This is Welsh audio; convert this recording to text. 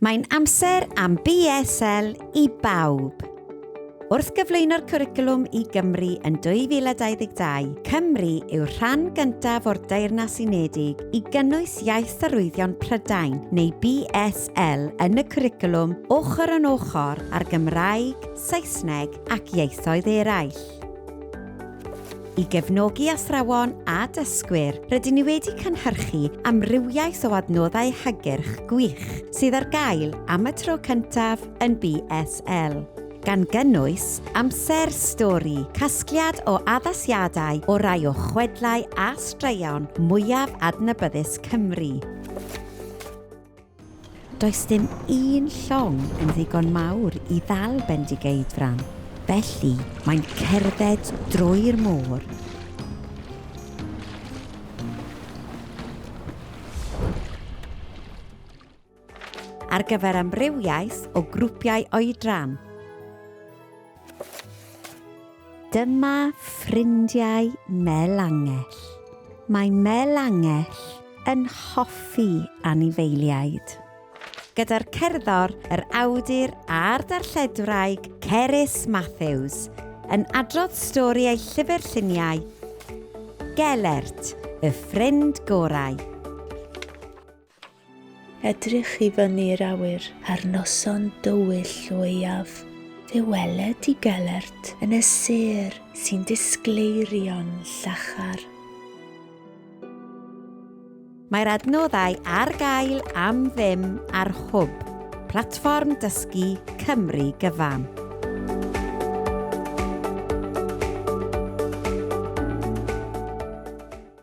Mae'n amser am BSL i bawb! Wrth gyflwyno'r cwricwlwm i Gymru yn 2022, Cymru yw'r rhan gyntaf o'r Deyrnas Unedig i gynnwys Iaith Arwyddion Prydain, neu BSL, yn y cwricwlwm ochr yn ochr â'r Gymraeg, Saesneg ac ieithoedd eraill. I gefnogi athrawon a dysgwyr, rydyn ni wedi cynhyrchu amrywiaeth o adnoddau hygyrch gwych sydd ar gael am y tro cyntaf yn BSL, gan gynnwys, Amser Stori, casgliad o addasiadau o rai o chwedlau a straeon mwyaf adnabyddus Cymru. Does dim un llong yn ddigon mawr i ddal Bendigeidfran, felly mae'n cerdded drwy'r môr. Ar gyfer amrywiaeth o grwpiau oedran. Dyma ffrindiau Mel Angell. Mae Mel Angell yn hoffi anifeiliaid. Gyda'r cerddor, yr awdur a'r darlledwraig Cerys Matthews yn adrodd stori ei llyfr lluniau, Gelert, y ffrind gorau. Edrych i fyny i'r awyr. Ar noson dywyll leiaf. Fe weled i gelert yn y sêr sy'n disgleirio'n llachar. Mae'r adnoddau ar gael am ddim ar Hwb, platfform dysgu Cymru gyfan.